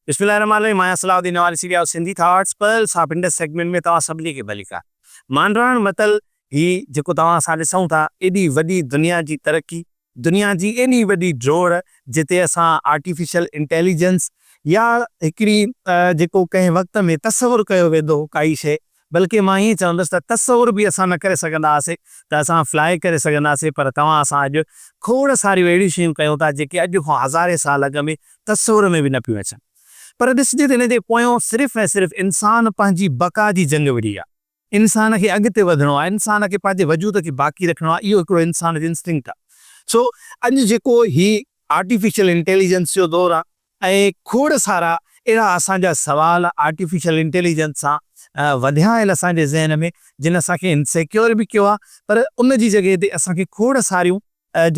بسم الله الرحمٰن الرحيم آهيان Salahuddin Nawari series of Sindhi thoughts pearls of Indus segment ۾ توهان سڀني کي ڀليڪار مانڊراڻ متل هي جيڪو توهان اسان ڏسون ٿا ايڏي وڏي دنيا جي ترقي دنيا جي ايڏي وڏي ڊوڙ جتي اسان آرٽيفيشل انٽيليجنس يا هڪڙي جيڪو ڪنهن وقت ۾ تصور ڪيو ويندو هو ڪائي شيء بلڪه مان ائين چوندس ته تصور به اسان نه ڪري سگهندا هئاسين ته اسان فلاء ڪري سگهنداسين پر توهان اسان اڄ کوڙ ساريون اهڙيون شيون ڪيون ٿا جيڪي اڄ کان هزارين سال اڳ ۾ تصور ۾ به نه پيون اچن پر ڏسجي ته ان جي پويان صرف ۽ صرف انسان پنهنجي بقا جي جنگ وڙهي آهي. انسان کي اڳتي وڌڻو آهي، انسان کي پنهنجي وجود کي باقي رکڻو آهي اهو هڪڙو انسان جو انسٽنڪٽ آهي سو اڄ جيڪو هي آرٽيفيشل انٽيليجنس جو دور آهي ائين کوڙ سارا اهڙا اسان جا سوال آرٽيفيشل انٽيليجنس سان وڌيا آهن اسان جي ذهن ۾ جن اسان کي انسيڪيور به ڪيو آهي پر ان جي جڳهه تي اسان کي کوڙ ساريون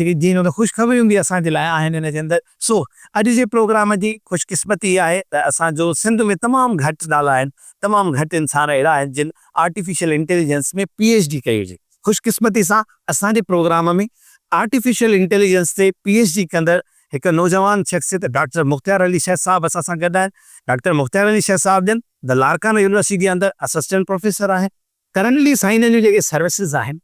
جيڪي جنهن ۾ خوشخبريون به اسان جي لاء آهن ان جي اندر سو اڄ جي پروگرام جي خوش قسمتي هي آهي ته اسان جو سنڌ ۾ تمام گهٽ نالا آهن تمام گهٽ انسان اهڙا آهن جن artificial intelligence ۾ P H D ڪئي هجي خوش قسمتي سان اسان جي پروگرام ۾ آرٽيفيشل انٽيليجنس تي پي ايڇ ڊي ڪندڙ هڪ نوجوان شخصيت ڊاڪٽر مختيار علي شيخ صاحب اسان سان گڏ آهن. ڊاڪٽر مختيار علي شيخ صاحب جن The Larkana University جي اندر اسسٽنٽ پروفيسر آهن. ڪرنٽلي سائين جن جون جيڪي سروسز آهن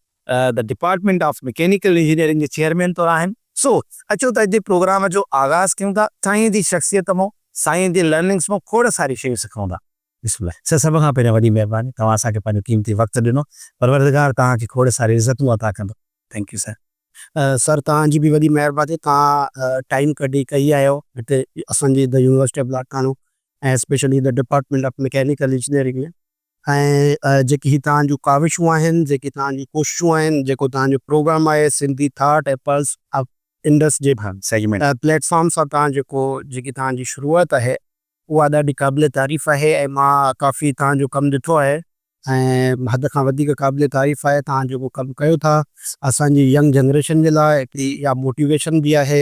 The Department of Mechanical Engineering جي چيئرمين طور آهن. سو اچو ته اڄ جي پروگرام جو آغاز ڪيون ٿا. سائين جي شخصيت مون سائين جي لرننگس مون کوڙ ساريون شيون سکون ٿا. بسم الله سر سڀ کان پهريان وڏي مهرباني توهان اسان کي پنهنجو قيمتي وقت ڏنو پروردگار توهان کي کوڙ ساري عزتون عطا ڪندو ٿينڪ يو سر. سر توهان جي به وڏي مهرباني توهان ٽائيم ڪڍي ڪئي آهيو هتي اسان جي The University of Lakhano ۽ specially The Department of Mechanical Engineering ۾ ۽ جيڪي هي توهان جون ڪاوشون آهن جيڪي توهان جون ڪوششون آهن جيڪو توهان جو پروگرام آهي Sindhi thought ۽ pearls of Indus جي پليٽ فارم سان توهان جيڪو جيڪي توهان جي شروعات آهي اها ڏاڍي قابل تعريف آهي ۽ مان ڪافي توهان جو ڪم ڏٺو آهي. ۽ حد کان وڌيڪ قابل تعريف آهي توهان جيڪو ڪم ڪيو ٿا اسان جي ينگ جنريشن جي لاء اها موٽيويشن به آهي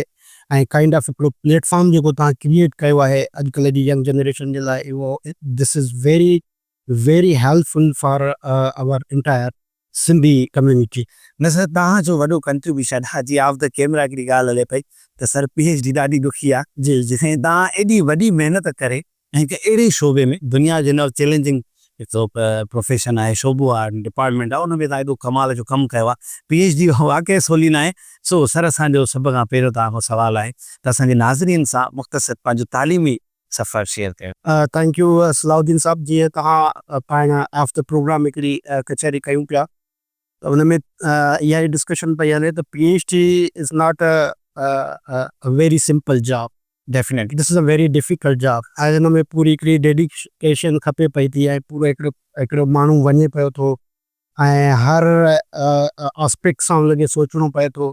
۽ ڪائنڊ آف هڪڙو پليٽ فارم جيڪو توهان ڪريئيٽ ڪيو آهي اڄ ڪلهه جي ينگ جنريشن جي لاء اهو this is very very helpful for our entire Sindhi community. نه سر توهان جو وڏو ڪنٽريبيوشن آ جي آف دي ڪيمرا هڪڙي ڳالهه هلي پئي ته سر پي ايڇ ڊي ڏاڍي ڏکي آ ۽ توهان ايڏي وڏي محنت ڪري ۽ هڪ اهڙي شعبي ۾ دنيا جو هن وقت چيلينجنگ هڪڙو پروفيشن آهي شعبو آ ڊپارٽمينٽ آ ان ۾ توهان ايڏو ڪمال جو ڪم ڪيو آ پي ايڇ ڊي واقعي سولي ناهي سو سر اسان جو سڀ کان پهريون توهان کان سوال آهي ته اسان جي ناظرين سان مختصر پنهنجو تعليمي سفر شيئر ڪيو. ٿينڪ يو صلاح الدين صاحب جيئن توهان پاڻ آف دي پروگرام هڪڙي ڪچهري ڪيون پيا ته ان ۾ اها ئي ڊسڪشن پئي هلي ته P H D is not a very simple job definitely this is a very difficult job ۽ ان ۾ پوري هڪڙي ڊيڊيڪيشن کپي پئي ٿي ۽ پورو هڪڙو هڪڙو ماڻهو وڃي پيو ٿو ۽ هر آسپيڪٽ سان هن کي سوچڻو پئي ٿو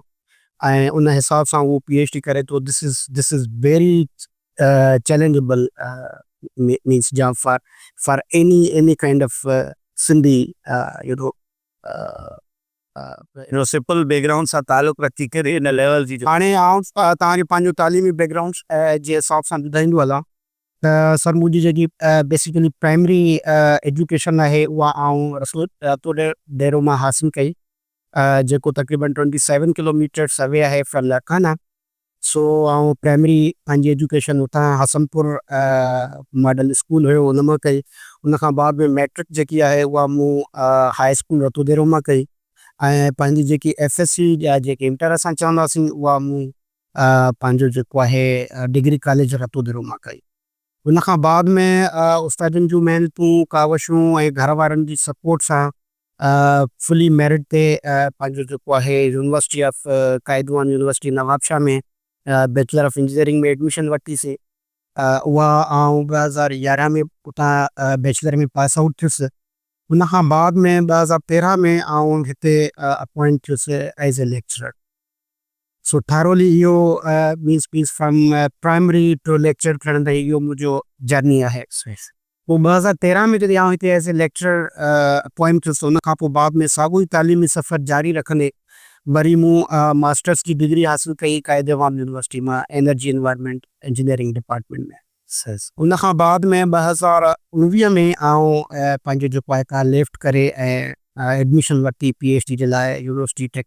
۽ ان حساب سان هو پي ايڇ ڊي ڪري ٿو this is this is very challengeable means job for for any any kind of Sindhi you know you know simple background سان تعلق رکي ڪري ان ليول جي جو. هاڻي آئون توهان کي پنهنجو تعليمي بيڪ گرائونڊ جي حساب سان ٻڌائيندو هلان ته سر منهنجي جيڪي بيسيڪلي پرائمري ايجوڪيشن آهي اها آئون رسول تو ڊيرو مان حاصل ڪئي جيڪو تقريبن ٽوئنٽي سيون ڪلوميٽرس اوي آهي فرام لاڙڪانا سو آئون پرائمري پنهنجي ايجوڪيشن اتان حسنپور ماڊل اسڪول هيو ان مان ڪئي ان کان بعد ۾ ميٽرڪ جيڪي آهي اها مون هاء اسڪول رتو ديرو مان ڪئي ۽ پنهنجي جيڪي ايف ايس سي جا جيڪي انٽر اسان چونداسين اها مون پنهنجو جيڪو آهي ڊگري ڪاليج رتودرو مان ڪئي. ان کان بعد ۾ استادن جون محنتون، ڪاوشون ۽ گهر وارن جي سپورٽ سان فلي ميرٽ تي پنهنجو جيڪو آهي university of Quaid-e-Awam university Nawabshah ۾ bachelor of engineering ۾ admission ورتي سي. اها آئون ٻه هزار يارهن ۾ اتان بيچلر ۾ پاس آئوٽ ٿيس. ان کان بعد ۾ ٻه هزار تيرهن ۾ آئون هتي اپوائنٽ ٿيس as a lecturer. So thoroughly اهو means means from primary to lecture کڻڻ تائين اهو منهنجو جرني آهي ايڪسپيرينس. پوء ٻه هزار تيرهن ۾ جڏهن آئون هتي ايز اي ليڪچرر اپوائنٽ ٿيس ته ان کان پوء بعد ۾ ساڳيو ئي تعليمي سفر جاري رکندي وري مون ماسٽرس جي ڊگري حاصل ڪئي قائد عوام يونيورسٽي مان انرجي انوائرمينٽ انجنيئرنگ ڊپارٽمينٽ ۾. ان کان بعد ۾ ٻه هزار اڻويهه ۾ آئون پنهنجو جيڪو آهي ڪا ليفٽ ڪري ۽ ايڊميشن ورتي پي ايڇ ڊي جي لاء يونيورسٽي ٽيڪ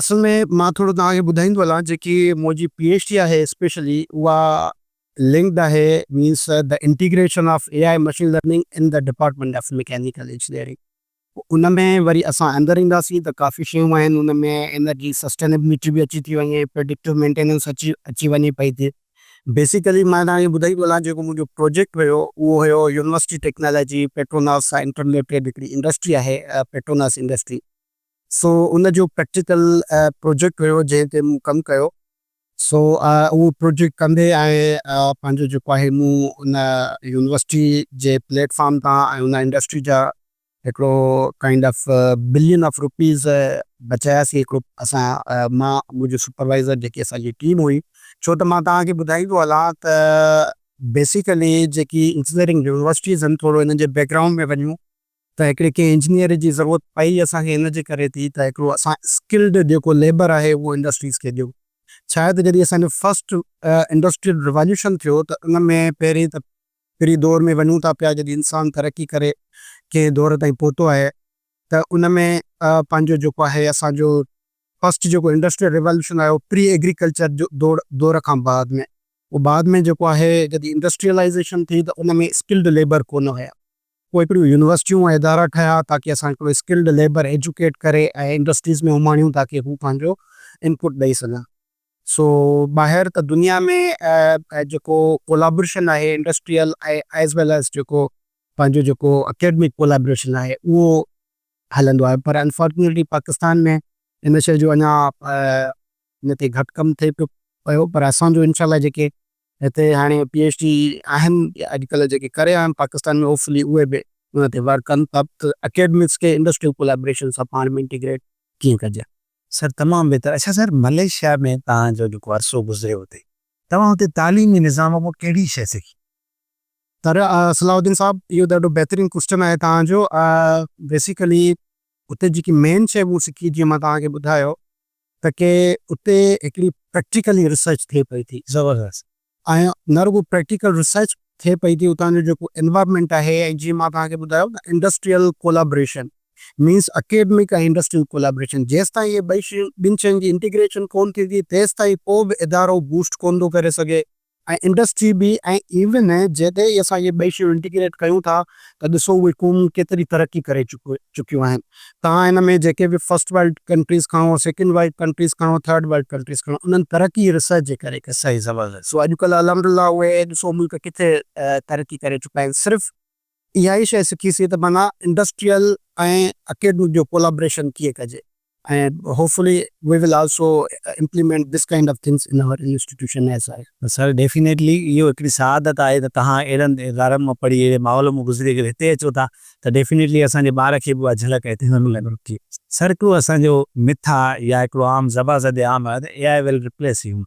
اصل ۾ مان ٿورو توهان کي ٻڌائيندو هلان جيڪي منهنجي پي ايڇ ڊي آهي اسپيشلي اها لنڪڊ آهي means the integration of A I machine learning in the department of mechanical engineering ان ۾ وري اسان اندر اينداسين ته ڪافي شيون آهن ان ۾ انرجي سسٽينبلٽي به اچي ٿي وڃي پريڊڪٽو مينٽيننس اچي اچي وڃي پئي ٿي بيسيڪلي مان توهان کي ٻڌائيندو هلان جيڪو منهنجو پروجيڪٽ هيو اهو هيو يونيورسٽي ٽيڪنالاجي پيٽروناس سان انٽرليٽيڊ هڪڙي انڊسٽري آهي پيٽروناس انڊسٽري سو ان جو پريڪٽيڪل پروجيڪٽ هيو جنهن تي مون ڪم ڪيو. سو اهو پروجيڪٽ ڪندي آئين پنهنجو جيڪو آهي مون ان يونيورسٽي جي پليٽ فارم تان ۽ ان انڊسٽري جا هڪڙو kind of billion of rupees بچايا سي هڪڙو اسان مان منهنجو سپروائيزر جيڪي اسان جي ٽيم هئي ڇو ته مان توهان کي ٻڌائيندو هلان ته بيسيڪلي جيڪي انجنيئرنگ يونيورسٽيز هن ٿورو هنن جي بيڪ گرائونڊ ۾ وڃون ته هڪڙي ڪنهن انجنيئر جي ضرورت پئي اسان کي ان جي ڪري ٿي ته هڪڙو اسان اسڪلڊ جيڪو ليبر آهي اهو انڊسٽريز کي ڏيون ڇا آهي ته جڏهن اسان جو فرسٽ انڊسٽريل ريواليوشن ٿيو ته ان ۾ پهرين ته پري دور ۾ وڃون ٿا پيا جڏهن انسان ترقي ڪري ڪنهن دور تائين پهتو آهي ته ان ۾ پنهنجو جيڪو آهي اسان جو فرسٽ جيڪو انڊسٽريل ريواليوشن آهي اهو پري ايگريڪلچر جو دور دور کان بعد ۾ بعد ۾ جيڪو آهي جڏهن انڊسٽريلائيزيشن ٿي ته ان ۾ اسڪلڊ ليبر ڪونه هيا. پوء هڪڙيون يونيورسٽيون ۽ ادارا ٺهيا تاڪي اسان هڪڙو اسڪلڊ ليبر ايجوڪيٽ ڪري ۽ انڊسٽريز ۾ اماڻيون تاڪي هو پنهنجو انپوٽ ڏئي سگهن. سو ٻاهر ته دنيا ۾ جيڪو ڪولابريشن آهي انڊسٽريل ايز ويل ايز جيڪو پنهنجو جيڪو اڪيڊمڪ ڪولابريشن آهي اهو هلندو آهي پر انفارچونيٽلي پاڪستان ۾ ان شيء جو اڃا ان تي گهٽ ڪم ٿئي پيو پيو پر اسان جو انشاء الله جيڪي هتي هاڻي پي ايڇ ڊي آهن يا اڄڪلهه جيڪي ڪري رهيا آهن پاڪستان ۾ هوپفلي اهي به ان تي ورڪ ڪن ته اڪيڊمڪس کي انڊسٽريل ڪولابريشن سان پاڻ ۾ انٽيگريٽ ڪيئن ڪجي. سر تمام بهتر اڇا سر ملائيشيا ۾ توهان جو جيڪو عرصو گذريو اتي توهان اتي تعليمي نظام اڳو ڪهڙي شيء سکي. سر صلاح الدين صاحب اهو ڏاڍو بهترين ڪوسٽن آهي توهان جو بيسيڪلي اتي جيڪي مين شي مون سکي جيئن مان توهان کي ٻڌايو ته ڪي اتي هڪڙي پريڪٽيڪلي ريسرچ ٿئي پئي ٿي زبردست ۽ نه رڳو پريڪٽيڪل ريسرچ ٿئي پئي ٿي اتان جو جيڪو انوائرمينٽ آهي ۽ جيئن مان توهان کي ٻڌايو ته industrial collaboration means academic ۽ industrial collaboration جيستائين اهي ٻئي شيون ٻن شين جي انٽيگريشن ڪون ٿيندي تيستائين ڪو به ادارو بوسٽ ڪون ٿو ڪري سگهي ۽ انڊسٽري به ۽ ايون جڏهن ئي اسان اهي ٻئي شيون انٽيگريٽ ڪيون ٿا ته ڏسو اهي قومون ڪيتري ترقي ڪري چڪيون آهن. توهان ان ۾ جيڪي به فرسٽ ورلڊ ڪنٽريز کڻو، سيڪنڊ ورلڊ ڪنٽريز کڻو، ٿرڊ ورلڊ ڪنٽريز کڻو انهن ترقي ريسرچ جي ڪري ڪئي. صحيح زبردست. سو اڄڪلهه الحمد لله اهي ڏسو ملڪ ڪٿي ترقي ڪري چڪا آهن صرف. اها ئي شيء سکي سي ته معنيٰ انڊسٽريل ۽ اڪيڊمڪ جو ڪولابريشن ڪيئن ڪجي ۽ hopefully we will also implement this kind of things in our institution ايس آء. سر ڊيفينيٽلي اهو هڪڙي سعادت آهي ته توهان اهڙن ادارن مان پڙهي اهڙي ماحول مان گذري ڪري هتي اچو ٿا ته ڊيفينيٽلي اسان جي ٻار کي به اها جهلڪ هتي ضرور ملڻ گهرجي. سر هڪڙو اسان جو مٿ آهي يا هڪڙو عام زبان زده عام آهي ته A I will replace human.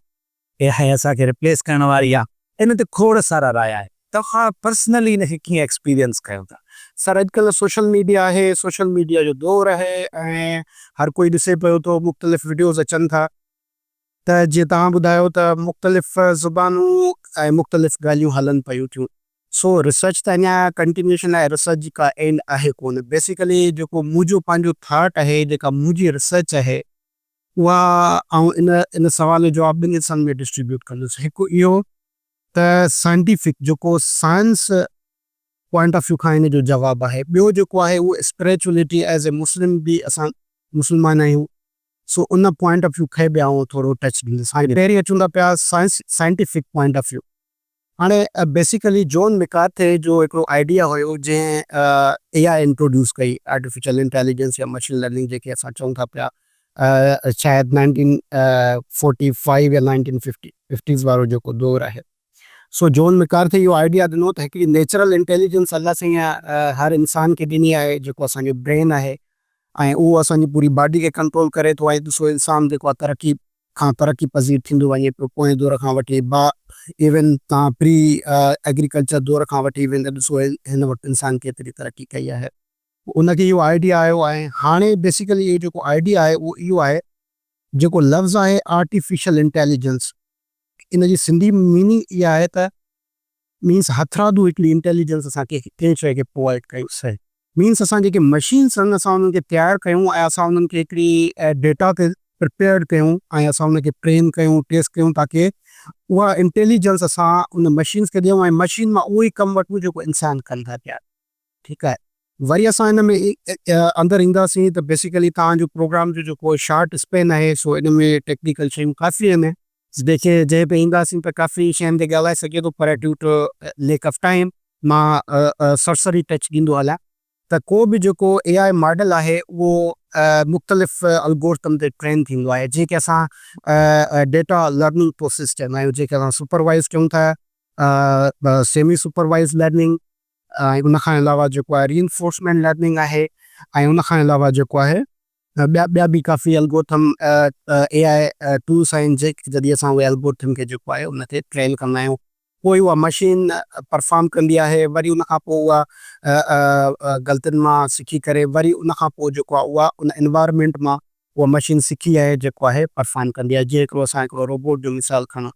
A I اسان کي ريپليس ڪرڻ واري آ ان تي کوڙ سارا رايا آهن توهان پرسنلي ان کي ڪيئن ايڪسپيرينس ڪيو ٿا. سر اڄ ڪلهه سوشل ميڊيا آهي سوشل ميڊيا جو دور آهي ۽ هر ڪوئي ڏسي پيو ٿو مختلف وڊيوز اچن ٿا ته جيئن توهان ٻڌايو ته مختلف زبانون ۽ مختلف ڳالهيون هلن پيون ٿيون سو ريسرچ ته اڃا ڪنٽينيوشن آهي ريسرچ جي ڪا اينڊ آهي ڪونه بيسيڪلي جيڪو منهنجو پنهنجو ٿاٽ آهي جيڪا منهنجي ريسرچ آهي اها آئون ان ان سوال جو جواب ٻن حصن ۾ ڊسٽريبيوٽ ڪندس. هڪ اهو ته سائنٽيفڪ جيڪو سائنس پوائنٽ آف ويو کان ان جو جواب آهي. ٻيو جيڪو آهي اهو اسپريچوئلٽي ايز اي مسلم به اسان مسلمان آهيون سو ان پوائنٽ آف ويو کي به آئون ٿورو ٽچ ڏيندس. هاڻي پهرين اچون ٿا پيا science scientific point of view. هاڻي بيسيڪلي جون مڪارٿي جو هڪڙو آئيڊيا هيو جنهن اي آء انٽروڊيوس ڪئي، آرٽيفيشل انٽيليجنس يا مشين لرننگ جنهن کي اسان چئون ٿا پيا شايد نائنٽين فورٽي فائيو يا نائنٽين ففٽيز وارو جيڪو دور آهي سو جون مڪارٿي اهو آئيڊيا ڏنو ته هڪڙي نيچرل انٽيليجنس الله سائين هر انسان کي ڏني آهي جيڪو اسان جو برين آهي ۽ اهو اسان جي پوري باڊي کي ڪنٽرول ڪري ٿو ۽ ڏسو انسان جيڪو آهي ترقي کان ترقي پذير ٿيندو وڃي پيو پوئين دور کان وٺي با ايون تان پري ايگريڪلچر دور کان وٺي ويندي ڏسو هن وقت انسان ڪيتري ترقي ڪئي آهي. ان کي اهو آئيڊيا آيو آهي هاڻي بيسيڪلي اهو جيڪو آئيڊيا آهي اهو اهو آهي جيڪو لفظ آهي آرٽيفيشل انٽيليجنس ان جي سنڌي ميننگ اها آهي ته مينس هٿرادو هڪڙي انٽيليجنس اسان کي ڪنهن شيء کي پرووائيڊ ڪيو سهي مينس اسان جيڪي مشينس آهن اسان انهن کي تيار ڪيون ۽ اسان انهن کي هڪڙي ڊيٽا تي پرپيئرڊ ڪيون ۽ اسان ان کي ٽرين ڪيون ٽيسٽ ڪيون تاڪه اها انٽيليجنس اسان ان مشينس کي ڏيون ۽ مشين مان اهو ئي ڪم وٺون جيڪو انسان ڪن ٿا پيا. ٺيڪ آهي وري اسان ان ۾ اندر اينداسين ته بيسيڪلي توهان جو پروگرام جو جيڪو شارٽ اسپين آهي سو ان ۾ ٽيڪنيڪل شيون ڪافي آهن جيڪي جنهن تي اينداسين ته ڪافي شين تي ڳالهائي سگهجي ٿو پر due to lack of time مان سرسري ٽچ ڏيندو هلان ته ڪو به جيڪو اي آء ماڊل آهي اهو مختلف الگورٿم تي ٽرين ٿيندو آهي جنهن کي اسان ڊيٽا لرننگ پروسيس چوندا آهيون جنهن کي اسان سپروائيز چئون ٿا سيمي سپروائيز لرننگ ۽ ان کان علاوه جيڪو آهي ري انفورسمينٽ لرننگ آهي ۽ ان کان علاوه جيڪو آهي ٻيا ٻيا به ڪافي الگورٿم اي آء ٽولس آهن جڏهن اسان اهي الگورٿم کي جيڪو آهي ان تي ٽرين ڪندا آهيون پوء اها مشين پرفارم ڪندي آهي وري ان کان پوء اها غلطين مان سکي ڪري وري ان کان پوء جيڪو آهي اها ان انوائرمينٽ مان اها مشين سکي ۽ جيڪو آهي پرفارم ڪندي آهي جيئن هڪڙو اسان هڪڙو روبوٽ جو مثال کڻون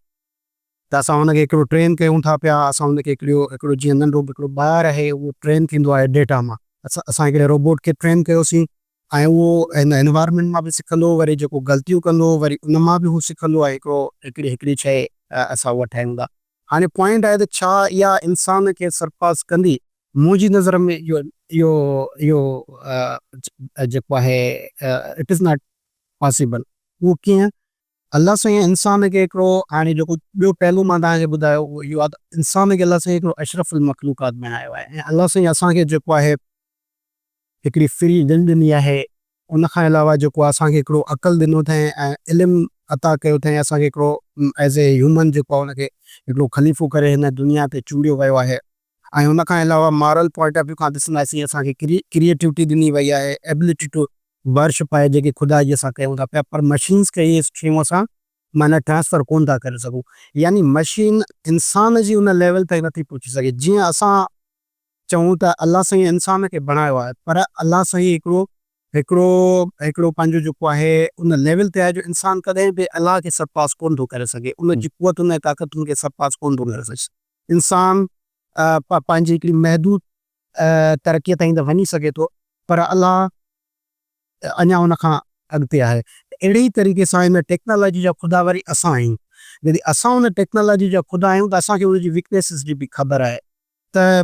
ته اسان ان کي هڪڙو ٽرين ڪيون ٿا پيا، اسان ان کي هڪڙيو هڪڙو جيئن ننڍو هڪڙو ٻار آهي اهو ٽرين ٿيندو آهي ڊيٽا مان اسان اسان هڪڙي روبوٽ کي ٽرين ڪيوسين ۽ اهو هن انوائرمينٽ مان به سکندو وري جيڪو غلطيون ڪندو وري ان مان به هو سکندو ۽ هڪڙو هڪڙي هڪڙي شيء اسان اها ٺاهيون ٿا هاڻي پوائنٽ آهي ته ڇا اها انسان کي سرپاس ڪندي منهنجي نظر ۾ اهو اهو اهو جيڪو آهي اٽ از ناٽ پاسيبل اهو ڪيئن الله سائين انسان کي هڪڙو هاڻي جيڪو ٻيو پهلو مان توهان کي ٻڌايو اهو اهو آهي ته انسان کي الله سائين هڪڙو اشرف المخلوقات بڻايو آهي ۽ الله سائين اسان کي جيڪو آهي هڪڙي فري دل ڏني آهي ان کان علاوه جيڪو آهي اسان کي هڪڙو عقل ڏنو اٿائين ۽ علم عطا ڪيو اٿائين اسان کي هڪڙو ايز اي هيومن جيڪو آهي ان کي هڪڙو خليفو ڪري هن دنيا تي چونڊيو ويو آهي. ۽ ان کان علاوه مارل پوائنٽ آف ويو کان ڏسنداسين اسان کي ڪريئيٽوٽي ڏني وئي آهي ايبلٽي ٽو ورشپ آهي جيڪي خدا جي اسان ڪيون ٿا پيا پر مشينز کي اهي شيون اسان معنيٰ ٽرانسفر ڪونه ٿا ڪري سگهون يعني مشين انسان جي ان ليول تائين نٿي پهچي سگهي جيئن اسان چئون ته الله سائين انسان کي بڻايو آهي پر الله سائين هڪڙو هڪڙو هڪڙو پنهنجو جيڪو آهي ان ليول تي آهي جو انسان ڪڏهن به الله کي سرپاس ڪونه ٿو ڪري سگهي ان جي قوتن ۽ طاقتن کي سرپاس ڪونه ٿو ڪري سگهي. انسان پنهنجي هڪڙي محدود ترقيء تائين ته وڃي سگهي ٿو پر الله اڃا ان کان اڳتي آهي. اهڙي ئي طريقي سان ان ٽيڪنالاجي جا خدا وري اسان آهيون. جڏهن اسان ان ٽيڪنالاجي جا خدا آهيون ته اسان کي ان جي ويڪنيسز جي به خبر آهي ته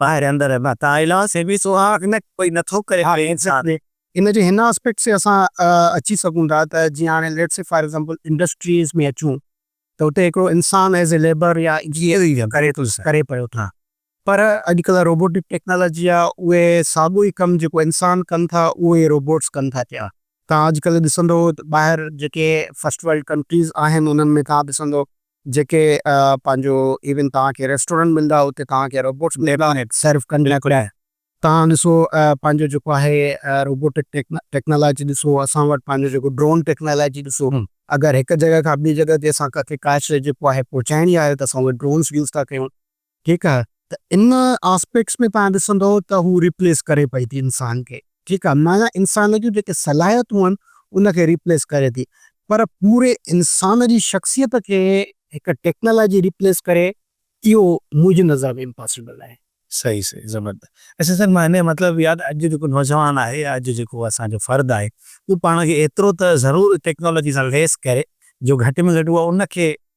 ٻاهر اندر ادا ته ايلا سي بي سو آ ان ڪوئي نه ٿو ڪري ڪري انسان. ان جي هن آسپيڪٽ سي اسان اچي سگهون ٿا ته جي هاڻي let's see for example industries ۾ اچون ته اتي هڪڙو انسان ايز اي ليبر يا انجنيئر ڪري ٿو ڪري پيو ٿا پر اڄ ڪلهه روبوٽڪ ٽيڪنالاجي آ اهي ساڳو ئي ڪم جيڪو انسان ڪن ٿا اهو ئي روبوٽس ڪن ٿا پيا تان اڄ ڪلهه ڏسندو ٻاهر جيڪي فرسٽ ورلڊ ڪنٽريز آهن انهن ۾ تان ڏسندو جيڪي پنهنجو ايون توهان کي ريسٽورنٽ ملندا اتي توهان کي روبوٽس ملندا سرو ڪندڙ توهان ڏسو پنهنجو جيڪو آهي روبوٽڪ ٽيڪنالاجي ڏسو اسان وٽ پنهنجو جيڪو ڊرون ٽيڪنالاجي ڏسو اگر هڪ جڳهه کان ٻي جڳهه تي اسان کي ڪاهي شيء جيڪو آهي پهچائڻي آهي ته اسان اهي ڊرونس يوز ٿا ڪيون ٺيڪ آ ته ان آسپيڪٽس ۾ تهان ڏسندو ته هو ريپليس ڪري پئي ٿي انسان کي ٺيڪ آ معنيٰ انسان جون جيڪي صلاحيتون آهن ان کي ريپليس ڪري ٿي پر پوري انسان جي شخصيت کي هڪ ٽيڪنالاجي ريپليس ڪري اهو منهنجي نظر ۾ امپاسبل آهي. صحيح صحيح زبردست اچا سر مان هنجو مطلب يا ته اڄ جو جيڪو نوجوان آهي يا اڄ جيڪو اسان جو فرد آهي اهو پاڻ کي ايترو ته ضرور ٽيڪنالاجي سان ليس ڪري جو گهٽ ۾ گهٽ هو ان کي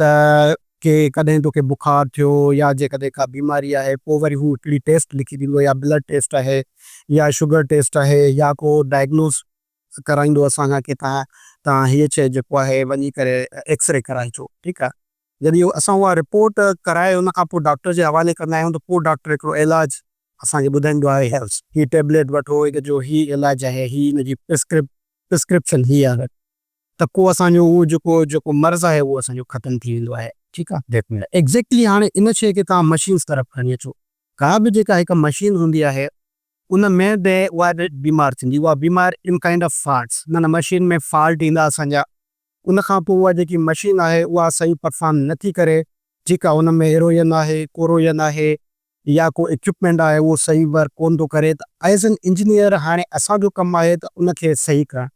ته ڪي ڪڏهن توکي بخار ٿيو يا جيڪڏهن ڪا بيماري آهي پوء وري هو هڪڙي ٽيسٽ لکي ڏيندو يا بلڊ ٽيسٽ آهي يا شگر ٽيسٽ آهي يا ڪو ڊائگنوز ڪرائيندو اسان کان ڪي تان تان هيء شيء جيڪو آهي وڃي ڪري ايڪسري ڪرائي اچو ٺيڪ آهي جڏهن اسان اها رپورٽ ڪرائي ان کان پوء ڊاڪٽر جي حوالي ڪندا آهيون ته پوء ڊاڪٽر هڪڙو علاج اسان کي ٻڌائيندو آهي هيلس هي ٽيبليٽ وٺو هن جو هي علاج آهي هي هن جي پرسڪرپ پرسڪرپشن هي آهي. ته ڪو اسان جو اهو جيڪو جيڪو مرض آهي اهو اسان جو ختم ٿي ويندو آهي ٺيڪ آهي ڊيٽ ميل ايگزيڪٽلي هاڻي ان شيء کي توهان مشينز طرف کڻي اچو ڪا به جيڪا هڪ مشين هوندي آهي ان ۾ به اها به بيمار ٿيندي اها بيمار ان ڪائنڊ آف فالٽس معنيٰ مشين ۾ فالٽ ايندا اسان جا ان کان پوء اها جيڪي مشين آهي اها صحيح پرفارم نه ٿي ڪري جيڪا ان ۾ ايروجن آهي ڪوروجن آهي يا ڪو اڪيوپمينٽ آهي اهو صحيح ورڪ ڪون ٿو ڪري ته ايز اين انجنيئر هاڻي اسان جو ڪم آهي ته ان کي صحيح ڪرڻ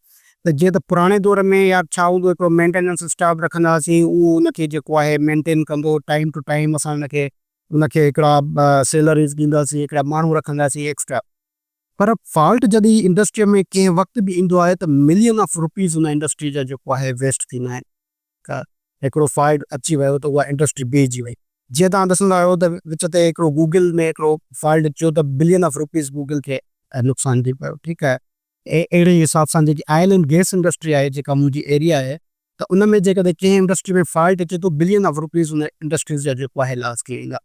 ته جيئن ته پراڻي دور ۾ يا ڇا هوندو هڪڙو مينٽيننس اسٽاف رکندا هئاسين اهو ان کي جيڪو آهي مينٽين ڪندو ٽائيم ٽو ٽائيم اسان ان کي ان کي هڪڙا سيلريز ڏينداسين هڪڙا ماڻهو رکنداسين ايڪسٽرا. پر فالٽ جڏهن انڊسٽري ۾ ڪنهن وقت به ايندو آهي ته ملين آف روپيز ان انڊسٽري جا جيڪو آهي ويسٽ ٿيندا آهن. ته هڪڙو فالٽ اچي ويو ته اها انڊسٽري بيهجي وئي. جيئن توهان ڏسندا آهيو ته وچ تي هڪڙو گوگل ۾ هڪڙو فالٽ اچيو ته بلين آف روپيز گوگل کي نقصان ٿي پيو ٺيڪ آهي. اهڙي ئي حساب سان جيڪي آئل اينڊ گيس انڊسٽري آهي جيڪا منهنجي ايريا آهي ته ان ۾ جيڪڏهن ڪنهن انڊسٽري ۾ فالٽ اچي ٿو بلين آف روپيز ان انڊسٽريز جا جيڪو آهي لاس ٿي ويندا.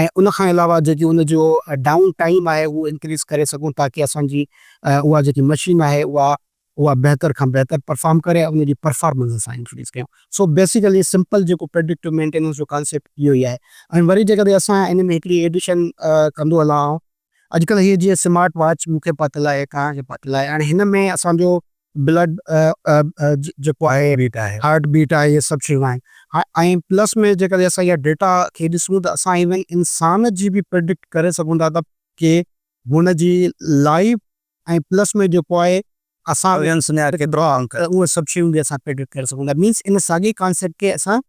۽ ان کان علاوه جيڪي ان جو ڊائون ٽائيم آهي اهو انڪريز ڪري سگهون تاڪي اسان جي اها جيڪي مشين آهي اها اها بهتر کان بهتر پرفارم ڪري ۽ ان جي پرفارمنس اسان انڪريز ڪيون سو بيسيڪلي سمپل جيڪو پريڊڪٽو مينٽيننس جو ڪانسيپٽ اهو ئي آهي ۽ وري جيڪڏهن اسان ان ۾ هڪڙي ايڊيشن ڪندو هلان آئون اڄڪلهه هيء جيئن سمارٽ واچ مون کي پاتل آهي، توهان کي پاتل آهي، هاڻي هن ۾ اسان جو بلڊ جيڪو آهي، هارٽ بيٽ آهي، هي سڀ شيون آهن ۽ پلس ۾ جيڪڏهن اسان اها ڊيٽا کي ڏسون ته اسان ايون انسان جي به پريڊڪٽ ڪري سگهون ٿا ته ڪي هن جي لائف ۽ پلس ۾ جيڪو آهي اسان اهي سڀ شيون به اسان پريڊڪٽ ڪري سگهون ٿا مينس ان ساڳي ڪانسيپٽ کي اسان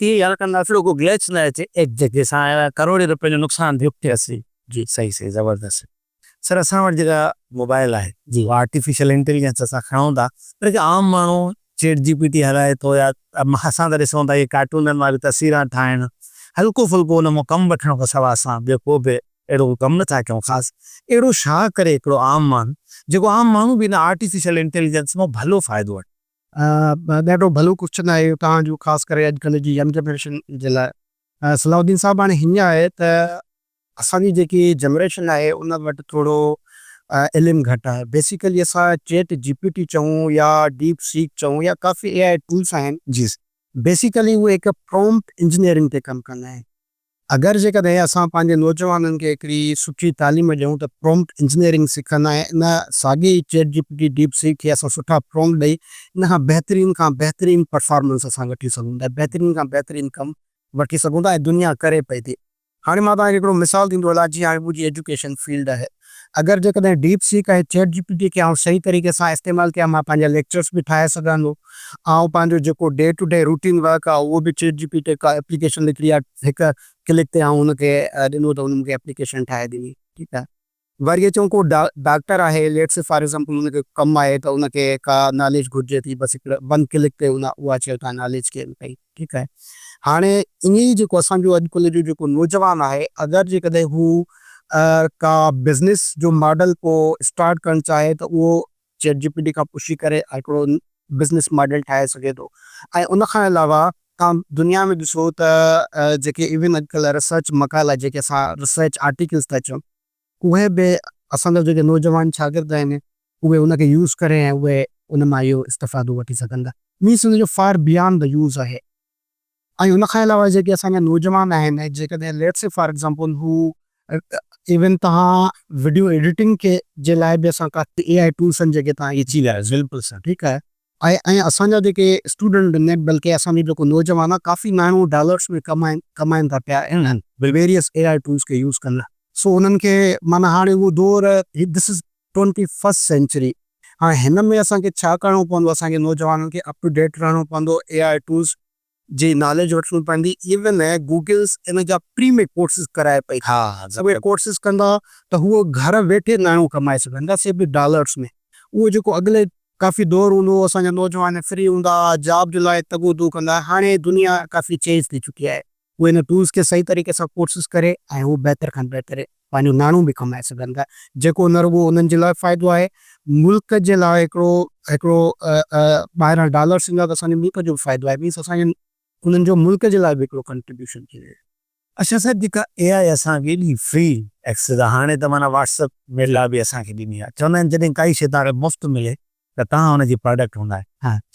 تيئن يار ڪن لاء رڳو گليچ نه اچي ايڪ جگهه سان آيو آهي ڪروڙين روپين جو نقصان ڀي ٿي اسي. جي صحيح صحيح زبردست سر اسان وٽ جيڪا موبائل آهي جي اها آرٽيفيشل انٽيليجنس اسان کڻون ٿا پر جيڪي عام ماڻهو چيٽ جي پي ٽي هلائي ٿو يا اسان ته ڏسون ٿا اهي ڪارٽونن واريون تصويران ٺاهڻ هلڪو ڦلڪو ان مان ڪم وٺڻ کان سواء اسان ٻيو ڪو به اهڙو ڪو ڪم نه ٿا ڪيون خاص اهڙو شا ڪري هڪڙو عام ماڻهو جيڪو عام ماڻهو به ان آرٽيفيشل انٽيليجنس مان ڀلو فائدو وٺي. اها ڏاڍو ڀلو ڪوشچن آهي اهو توهان جو خاص ڪري اڄ ڪلهه جي ين جنريشن جي لاء صلاح الدين صاحب هاڻي هيئن آهي ته اسان جي جيڪي جنريشن آهي ان وٽ ٿورو علم گهٽ آهي بيسيڪلي اسان چيٽ جي پي ٽي چئون يا ڊيپ سيڪ چئون يا ڪافي اي آء ٽولس آهن جي بيسيڪلي اهي هڪ پرومپٽ انجنيئرنگ تي ڪم ڪندا آهن اگر جيڪڏهن اسان پنهنجي نوجوانن کي هڪڙي سٺي تعليم ڏيون ته پرومپٽ انجنيئرنگ سکن ۽ ان ساڳي ئي chat G P T, deepseek کي اسان سٺا پرومپٽ ڏئي ان کان بهترين کان بهترين پرفارمنس اسان وٺي سگهون ٿا، بهترين کان بهترين ڪم وٺي سگهون ٿا ۽ دنيا ڪري پئي ٿي. هاڻي مان توهان کي هڪڙو مثال ڏيندو هلان جيئن هاڻي منهنجي ايجوڪيشن فيلڊ آهي. اگر جيڪڏهن ڊيپ سيڪ ۽ چيٽ جي پي ٽي کي آئون صحيح طريقي سان استعمال ڪيان مان پنهنجا ليڪچرس به ٺاهي سگهان ٿو آئون پنهنجو جيڪو day to day routine work آهي اهو به چيٽ جي پي ٽي ڪا ايپليڪيشن نڪري آهي هڪ ڪلڪ تي آئون ان کي ڏنو ته ان مون کي ايپليڪيشن ٺاهي ڏني ٺيڪ آهي. وري اچون ڪو ڊاڪٽر آهي ليٽس سي فار ايگزامپل ان کي ڪم آهي ته ان کي ڪا ناليج گهرجي ٿي بس هڪڙي ون ڪلڪ تي ان اها شي اتان ناليج گين ڪئي. ٺيڪ آهي هاڻي ائين ئي جيڪو اسان جو اڄ ڪلهه جو جيڪو نوجوان آهي اگر جيڪڏهن هو ڪا بزنس جو ماڊل ڪو اسٽارٽ ڪرڻ چاهي ته اهو چيٽ جي پي ٽي کان پڇي ڪري هڪڙو بزنس ماڊل ٺاهي سگهي ٿو ۽ ان کان علاوه تان دنيا ۾ ڏسو ته جيڪي ايون اڄ ڪلهه ريسرچ مقالا جيڪي اسان ريسرچ آرٽيڪلس ٿا چون اهي به اسان جا جيڪي نوجوان شاگرد آهن اهي ان کي يوز ڪرين ۽ اهي ان مان اهو استفادو وٺي سگهن ٿا. مينس ان جو فار بيانڊ دي يوز آهي ۽ ان کان علاوه جيڪي اسان جا نوجوان آهن جيڪڏهن ليٽس سي فار ايگزامپل هو ايون توهان وڊيو ايڊيٽنگ کي جي لاء به اسان ڪا اي آء ٽولس آهن جيڪي توهان کي اچي ويا آهن بلڪل سر ٺيڪ آهي. ۽ اسان جا جيڪي اسٽوڊنٽ به نه بلڪه اسان جو جيڪو نوجوان آهي ڪافي ماڻهو ڊالرس ۾ ڪمائين ٿا پيا انهن ويريس اي آء ٽولس کي يوز ڪندي سو انهن کي معنيٰ هاڻي اهو دور this is twenty first century هاڻي هن ۾ اسان کي ڇا ڪرڻو پوندو اسان کي نوجوانن کي اپ ٽو ڊيٽ رهڻو پوندو اي آء ٽولس جي ناليج وٺڻي پوندي ايون گوگلس ان جا فري ۾ ڪورسز ڪرائي پئي ٿي اهي ڪورسز ڪندا ته هو گهر ويٺي ناڻيون ڪمائي سگهندا سي به ڊالرس ۾ اهو جيڪو اڳلي ڪافي دور هوندو هو اسان جا نوجوان فري هوندا ها جاب جي لاء تڳ و دو ڪندا ها هاڻي دنيا ڪافي چينج ٿي چڪي آهي اهي ان ٽولس کي صحيح طريقي سان ڪورسز ڪري ۽ هو بهتر کان بهترين. پنهنجو ناڻو به ڪمائي سگهن ٿا جيڪو نه رڳو انهن جي لاء فائدو آهي ملڪ جي لاء هڪڙو هڪڙو ٻاهران ڊالرس ايندا ته اسان جي ملڪ جو به فائدو آهي مينس اسان جي انهن جو ملڪ جي لاء به هڪڙو ڪنٽريبيوشن ٿي ويو. اشا صاحب جيڪا اي آء اسان کي ايڏي فري ايڪسيس آ هاڻي ته معنيٰ واٽس اپ ميڊيا به اسان کي ڏني آ چوندا آهن جڏهن ڪائي شي توهان کي مفت ملي ته توهان ان جي پراڊڪٽ هوندا.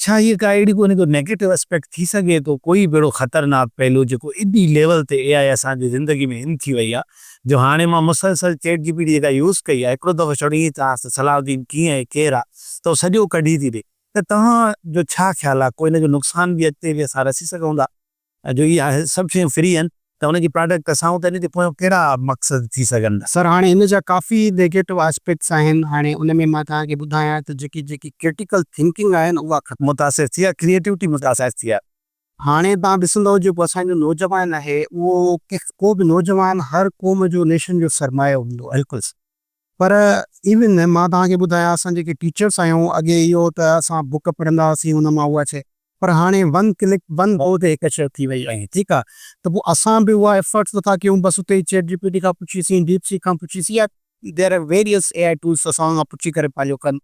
ڇا هيء ڪا اهڙي ڪونهي ڪو نيگيٽو اسپيڪٽ ٿي سگهي ٿو ڪوئي به اهڙو خطرناڪ پهلو جيڪو ايڏي ليول تي اي آء اسان جي زندگي ۾ ان ٿي وئي آهي جو هاڻي مان مسلسل چيٽ جي پي ٽي جيڪا يوز ڪئي آهي هڪڙو دفعو ڇڙو ائين چانس ته صلاح الدين ڪيئن آهي ڪير آهي ته هو سڄو ڪڍي ٿي ڏي ته توهان جو ڇا خيال آهي ڪو ان جو نقصان به اڳتي به اسان رسي سگهون ٿا. ۽ جو اهي سڀ شيون فري آهن ته ان جي پراڊڪٽ اسان وٽ نيٺي پويان ڪهڙا مقصد ٿي سگهن. سر هاڻي ان جا ڪافي نيگيٽو آسپيڪٽس آهن هاڻي ان ۾ مان توهان کي ٻڌايان ته جيڪي جيڪي ڪرٽيڪل ٿنڪنگ آهي نه اها ختم. متاثر ٿي آهي ڪريئيٽوٽي متاثر ٿي آهي. هاڻي توهان ڏسندؤ جيڪو اسان جو نوجوان آهي اهو ڪو به نوجوان هر قوم جو نيشن جو سرمايو هوندو آهي. بلڪل سر. پر ايون نه مان توهان کي ٻڌايان اسان جيڪي ٽيچرس آهيون اڳي اهو هو ته اسان بوڪ پڙهندا هئاسين ان مان اها شئي پر هاڻي ون ڪلڪ ون گو تي هڪ شئي ٿي وئي آهي ٺيڪ آهي ته پوء اسان به اها ايفرٽس نٿا ڪيون بس اتي ئي چيٽ جي پي ٽي کان پڇي سين ڊيپ سيڪ کان پڇي سين يا there are various A I tools اسان کان پڇي ڪري پنهنجو ڪن.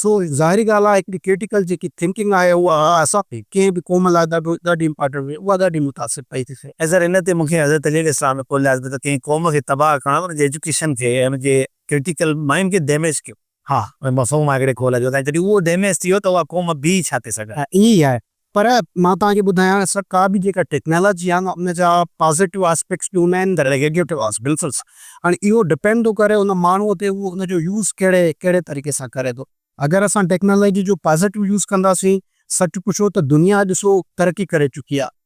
سو ظاهري ڳالهه آهي هڪڙي ڪرٽيڪل جيڪي ٿنڪنگ آهي اها اسان کي ڪنهن به قوم لاء ڏاڍو ڏاڍي امپارٽنٽ هئي اها ڏاڍي متاثر پئي ٿي ٿئي. سر ان تي مون کي حضرت علي عليه السلام جو قول ياد پيو ته ڪنهن قوم کي تباهه ڪرڻ ان جي ايجوڪيشن کي ۽ ان جي ڪرٽيڪل مائنڊ کي ڊيميج ڪيو. ها مفهوم آهي هڪڙي قول جو ۽ جڏهن اهو ڊيميج ٿي ويو ته اها قوم بيهي ڇا ٿي سگهي. ها ائين ئي آهي پر مان توهان کي ٻڌايان سر ڪا به جيڪا ٽيڪنالاجي آهي نه ان جا پازيٽو آسپيڪٽس به هوندا آهن ته نيگيٽو آسپيڪٽس بلڪل هاڻي اهو ڊپينڊ ٿو ڪري ان ماڻهوء تي هو ان جو يوز ڪهڙي ڪهڙي طريقي سان ڪري ٿو اگر اسان ٽيڪنالاجي جو پازيٽو يوز ڪنداسين سچ پڇو ته دنيا اڄ سو ترقي ڪري چڪي آهي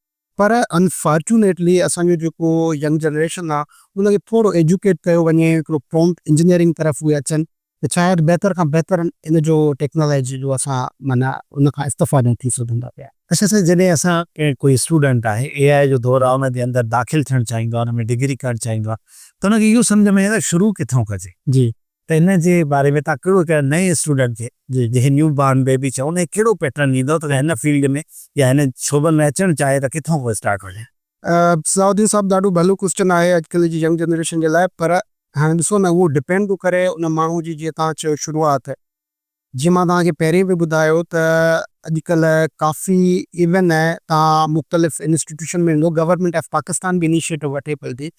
پر انفارچونيٽلي اسان جو جيڪو ينگ جنريشن آهي ان کي ٿورو ايجوڪيٽ ڪيو وڃي هڪڙو پرومپٽ انجنيئرنگ طرف اهي اچن ته شايد بهتر کان بهتر ان جو ٽيڪنالاجي جو اسان معنيٰ ان کان استفادي ٿي سگهون ٿا پيا. اچا سائين جڏهن اسان ڪنهن ڪوئي اسٽوڊنٽ آهي اي آء جو دور آهي ان جي اندر داخل ٿيڻ چاهيندو آهي ان ۾ ڊگري ڪرڻ چاهيندو آهي ته ان کي اهو سمجهه ۾ ايندو شروع ڪٿون ڪجي. جي ته ان جي باري ۾ تهان ڪهڙو هڪ نئين اسٽوڊنٽ کي جنهن کي نيو بارن بيبي چئون ان کي ڪهڙو پيٽرن ڏيندو ته هن فيلڊ ۾ يا هن شعبن ۾ اچڻ چاهي ته ڪٿون کان اسٽارٽ وڃي. ضياء الدين صاحب ڏاڍو ڀلو ڪوسچن آهي اڄ ڪلهه جي ينگ جنريشن جي لاء پر هاڻي ڏسو نه اهو ڊپينڊ ٿو ڪري ان ماڻهو جي جيئن توهان چيو شروعات جيئن مان توهان کي پهرين به ٻڌايو ته اڄ ڪلهه ڪافي ايون توهان مختلف انسٽيٽيوشن ۾ ويندو گورنمينٽ آف پاڪستان به انيشيٽو وٺي پئي ٿي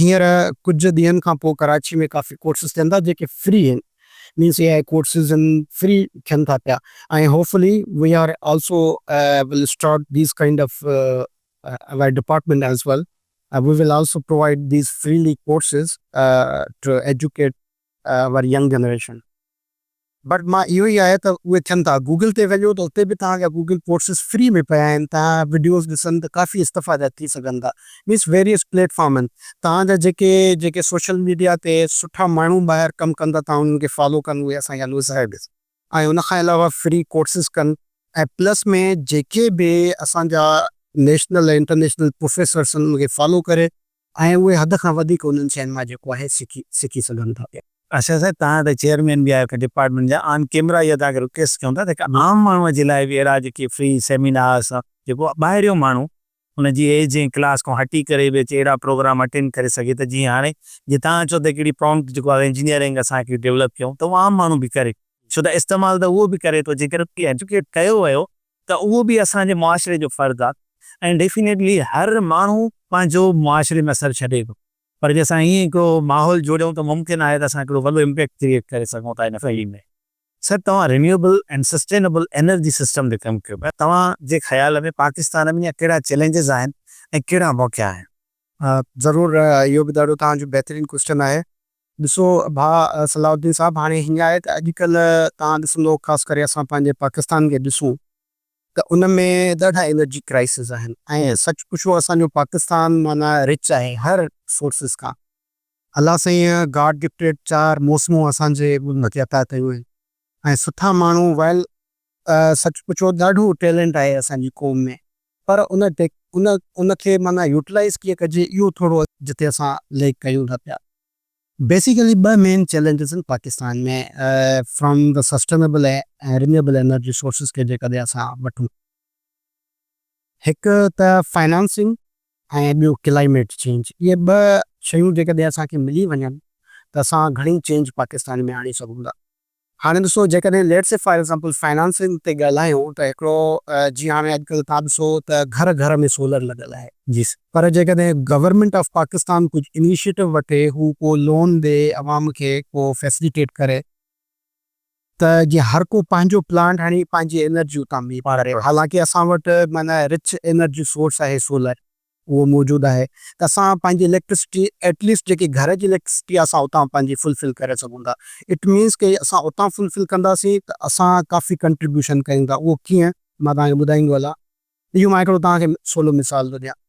هينئر ڪجهه ڏينهن کان پوء ڪراچي ۾ ڪافي ڪورسز ٿين ٿا جيڪي فري آهن مينس اي آء ڪورسز آهن فري ٿين ٿا پيا ۽ hopefully we are also will start these kind of our department as well we will also provide these freely courses to educate our young generation but مان اهو ئي آهي ته اهي ٿين ٿا گوگل تي وڃو ته اتي به توهان جا گوگل ڪورسز فري ۾ پيا آهن توهان وڊيوز ڏسن ته ڪافي استفاده ٿي سگهن ٿا مينس ويريس پليٽ فارمن توهان جا جيڪي جيڪي سوشل ميڊيا تي سٺا ماڻهو ٻاهر ڪم ڪن ٿا توهان انهن کي فالو ڪن اهي اسان جا نوزائيڊ ۽ ان کان علاوه فري ڪورسز ڪن ۽ پلس ۾ جيڪي به اسان جا نيشنل ۽ انٽرنيشنل پروفيسرس آهن ان کي فالو ڪري ۽ اهي حد کان وڌيڪ انهن شين مان جيڪو آهي سکي سکي سگهن ٿا پيا. ارشد صاحب توهان ته چيئرمين به آهيو ڊپارٽمينٽ جا آن ڪيمرا اها توهان کي رڪويسٽ ڪيون ٿا ته هڪ عام ماڻهو جي لاء به اهڙا جيڪي فري سيمينارس جيڪو ٻاهريون ماڻهو ان جي ايج ۽ ڪلاس کان هٽي ڪري به اچي اهڙا پروگرام اٽينڊ ڪري سگهي ته جيئن هاڻي جيئن توهان چئو ته هڪڙي پرامپٽ جيڪو آهي انجنيئرنگ اسان هڪڙي ڊيولپ ڪيون ته اهو عام ماڻهو به ڪري ڇو ته استعمال ته اهو به ڪري ٿو جيڪڏهن ان کي ايجوڪيٽ ڪيو ويو ته اهو به اسان جي معاشري جو فرد آهي ۽ ڊيفينيٽلي هر ماڻهو پنهنجو معاشري ۾ اثر ڇڏي ٿو پر جي اسان ائين ڪو ماحول جوڙيون ته ممڪن آهي ته اسان هڪڙو وڏو امپيڪٽ ڪريئيٽ ڪري سگهون ٿا ان فيلڊ ۾. سر توهان renewable and sustainable energy system تي ڪم ڪيو پيا توهان جي خيال ۾ پاڪستان ۾ اڃا ڪهڙا چئلينجز آهن ۽ ڪهڙا موقعا آهن. ضرور اهو به ڏاڍو توهان جو بهترين ڪوئسٽن آهي. ڏسو ڀاء صلاح الدين صاحب هاڻي هيئن آهي ته اڄڪلهه توهان ڏسندو خاص ڪري اسان پنهنجي پاڪستان کي ڏسون ته ان ۾ ڏاڍا انرجي ڪرائسز آهن ۽ سچ پڇو اسان جو پاڪستان معنيٰ رچ آهي هر سورسز کان الله سائين گاڊ گفٽيڊ چار موسمون اسان جي ملڪ کي عطا ڪيون آهن ۽ سٺا ماڻهو ويل. سچ پچو ڏاڍو ٽيلنٽ آهي اسان جي قوم ۾ پر ان ان ان کي معنيٰ يوٽلائيز ڪيئن ڪجي اهو ٿورو جتي اسان ليڪ ڪيون ٿا پيا. بيسيڪلي ٻه مين چئلينجز آهن Pakistan ۾ from the sustainable ۽ renewable energy sources کي جيڪڏهن اسان وٺون. هڪ ته فنانسنگ ۽ ٻيو ڪلائميٽ چينج اهي ٻه شيون جيڪڏهن اسان کي ملي وڃن ته اسان گهڻي چينج پاڪستان ۾ آڻي سگهون ٿا. هاڻي ڏسو جيڪڏهن let's see for example financing تي ڳالهايون ته هڪڙو جي هاڻي اڄڪلهه توهان ڏسو ته گهر گهر ۾ سولر لڳل آهي جي سر پر جيڪڏهن گورنمينٽ آف پاڪستان ڪجهه انيشيٽو وٺي هو ڪو لون ڏي عوام کي ڪو فيسليٽيٽ ڪري. ته جيئن هر ڪو پنهنجو پلانٽ هڻي پنهنجي انرجي اتان ميت ڪري حالانڪه اسان وٽ معنيٰ رچ انرجي سورس آهي سولر اهو موجود آهي ته اسان پنهنجي اليڪٽرسٽي ايٽ ليسٽ جيڪي گهر جي اليڪٽرسٽي آهي اسان اتان پنهنجي فل فل ڪري سگهون ٿا ايٽ مينس ڪي اسان اتان فل فل ڪنداسين ته اسان ڪافي ڪنٽريبيوشن ڪيون ٿا اهو ڪيئن مان توهان کي ٻڌائيندو هلان اهو مان هڪڙو توهان کي سولو مثال ٿو ڏيان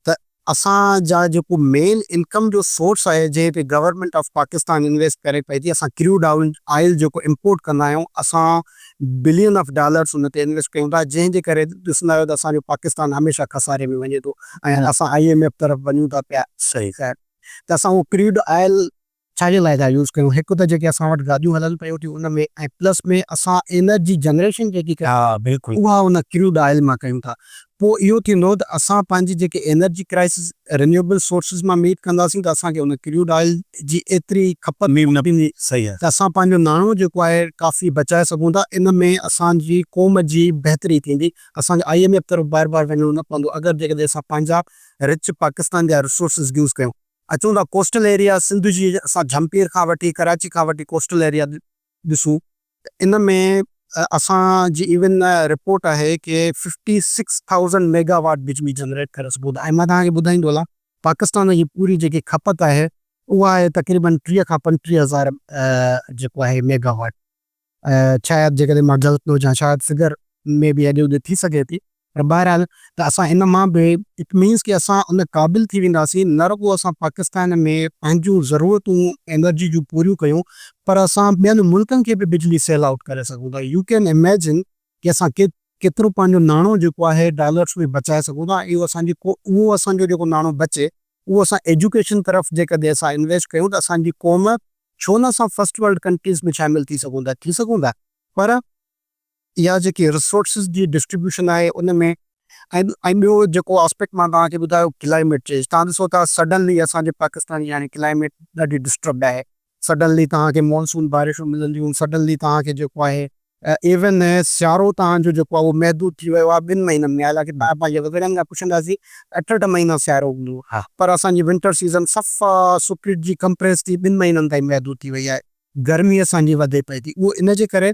ته اسان جا جيڪو مين انڪم جو سورس آهي جنهن تي گورنمينٽ آف پاڪستان انويسٽ ڪري پئي ٿي اسان ڪريوڊ آئل جيڪو امپورٽ ڪندا آهيون اسان بلين آف ڊالرس ان تي انويسٽ ڪيون ٿا جنهن جي ڪري ڏسندا آهيو ته اسان جو پاڪستان هميشه خساري ۾ وڃي ٿو ۽ اسان آئي ايم ايف طرف وڃون ٿا پيا ته اسان اهو ڪريوڊ آئل ڇا جي لاء ٿا يوز ڪريون هڪ ته جيڪي اسان وٽ گاڏيون هلن پيون ٿيون ان ۾ ۽ پلس ۾ اسان انرجي جنريشن جيڪي ڪريون ٿا اها ان ڪروڊ آئل مان ڪريون ٿا پوء اهو ٿيندو ته اسان پنهنجي جيڪي انرجي ڪرائسز رينيوبل سورسز مان ميٽ ڪنداسين ته اسان کي ان ڪروڊ آئل جي ايتري کپت ڪو نه ٿيندي ته اسان پنهنجو ناڻو جيڪو آهي ڪافي بچائي سگهون ٿا ان ۾ اسان جي قوم جي بهتري ٿيندي اسان کي آئي ايم ايف طرف بار بار وڃڻو نه پوندو اگر جيڪڏهن اسان پنهنجا رچ پاڪستان جا رسورسز يوز ڪيون. اچون ٿا ڪوسٽل ايريا سنڌ جي اسان جهمپير کان وٺي ڪراچي کان وٺي ڪوسٽل ايريا ڏسون ته ان ۾ اسان جي ايون رپورٽ آهي ڪي fifty six thousand megawatt بجلي جنريٽ ڪري سگهون ٿا ۽ مان توهان کي ٻڌائيندو هلان پاڪستان جي پوري جيڪي کپت آهي اها آهي تقريبن ٽيهه کان پنجٽيهه هزار جيڪو آهي ميگا واٽ. شايد جيڪڏهن مان غلط نه هجان شايد فگر ۾ به هيڏي هوڏي ٿي سگهي ٿي پر بهرحال ته اسان ان مان به اٽ مينز ڪي اسان ان قابل ٿي وينداسين نه رڳو اسان پاڪستان ۾ پنهنجون ضرورتون انرجي جون پوريون ڪيون پر اسان ٻين ملڪن کي به بجلي سيل آئوٽ ڪري سگهون ٿا يو ڪين اميجن ڪي اسان ڪي ڪيترو پنهنجو ناڻو جيڪو آهي ڊالرس ۾ بچائي سگهون ٿا ۽ اهو اسان جي قو اهو اسان جو جيڪو ناڻو بچي اهو اسان ايجوڪيشن طرف جيڪڏهن اسان انويسٽ ڪيون ته اسان جي قوم ڇو نه اسان فرسٽ ورلڊ ڪنٽريز ۾ شامل ٿي سگهون ٿا ٿي سگهون ٿا پر اها جيڪي رسورسز جي ڊسٽريبيوشن آهي ان ۾ ۽ ۽ ٻيو جيڪو آسپيڪٽ مان توهان کي ٻڌايو ڪلائميٽ چينج توهان ڏسو ٿا سڊنلي اسان جي پاڪستان جي هاڻي ڪلائميٽ ڏاڍي ڊسٽربڊ آهي سڊنلي توهان کي مانسون بارشون ملنديون سڊنلي توهان کي جيڪو آهي ايون سيارو توهان جو جيڪو آهي اهو محدود ٿي ويو آهي ٻن مهينن ۾ حالانڪه توهان پنهنجي وزڙن کان پڇنداسين اٺ اٺ مهينا سيارو هوندو هو پر اسان جي ونٽر سيزن صفا سپريٽ جي ڪمپريس ٿي ٻن مهينن تائين محدود ٿي وئي آهي گرمي اسان جي وڌي پئي ٿي اهو ان جي ڪري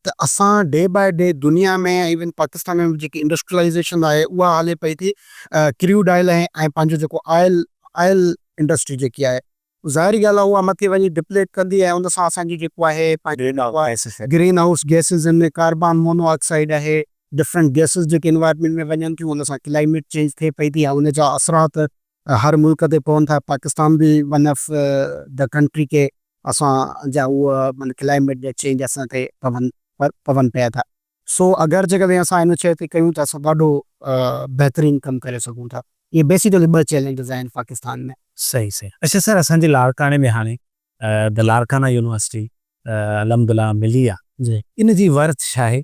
ته اسان ڊي باء ڊي دنيا ۾ ايون پاڪستان ۾ به جيڪي انڊسٽريلائيزيشن آهي اها هلي پئي ٿي ڪريوڊ آئل ۽ ۽ پنهنجو جيڪو آئل آئل انڊسٽري جيڪي آهي ظاهري ڳالهه آهي اها مٿي وڃي ڊپليٽ ڪندي ۽ ان سان اسان جي جيڪو آهي پنهنجو گرين هائوس گئسز جن ۾ ڪاربان مونو آڪسائيڊ آهي ڊفرنٽ گئسز جيڪي انوائرمينٽ ۾ وڃن ٿيون ان سان ڪلائميٽ چينج ٿئي پئي ٿي ۽ ان جا اثرات هر ملڪ تي پون ٿا پاڪستان به ون آف دا ڪنٽري ڪي اسان جا هو من ڪلائميٽ جا چينج اسان تي پون پون پيا ٿا سو اگر جيڪا به اسان ان شي تي ڪيون ٿا سو ڏاڍو بهترين ڪم ڪري سگهون ٿا اهي بيسيڪلي ٻه چيلينجز آهن پاڪستان ۾. صحيح صحيح اڇا سر اسان جي لاڙڪاڻي ۾ هاڻي The Larkana University الحمد الله ملي آ ان جي ورٿ ڇا آهي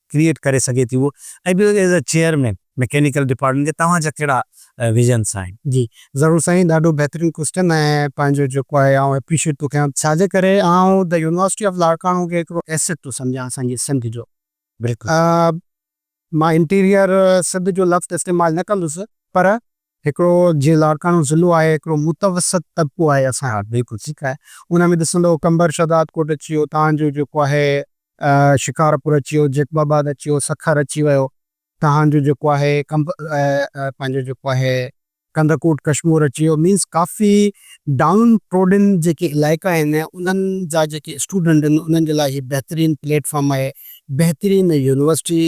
ڪريئيٽ ڪري سگهي ٿي اهو ۽ ٻيو as a chairman mechanical department کي توهان جا ڪهڙا ويزنس آهن. جي ضرور سائين ڏاڍو بهترين ڪوسٽن ۽ پنهنجو جيڪو آهي آئون اپريشيئيٽ ٿو ڪيان ڇا جي ڪري آئون دي يونيورسٽي آف لاڙڪاڻو کي هڪڙو ايسيٽ ٿو سمجهان اسان جي سنڌ جو مان انٽيريئر سنڌ جو لفظ استعمال نه ڪندس پر هڪڙو جيئن لاڙڪاڻو ضلعو آهي هڪڙو متوسط طبقو آهي اسان ها بلڪل ٺيڪ آهي ان ۾ ڏسندو قمبر شهداد ڪوٽ اچي ويو تهان جو جيڪو آهي شڪارپور اچي ويو جيڪب آباد اچي ويو سکر اچي ويو تهان جو جيڪو آهي قمب پنهنجو جيڪو آهي ڪنڌڪوٽ ڪشمور اچي ويو مينس ڪافي ڊائون ٽروڊن جيڪي علائقا آهن انهن جا جيڪي اسٽوڊنٽ آهن انهن جي لاء هي بهترين پليٽ فارم آهي بهترين يونيورسٽي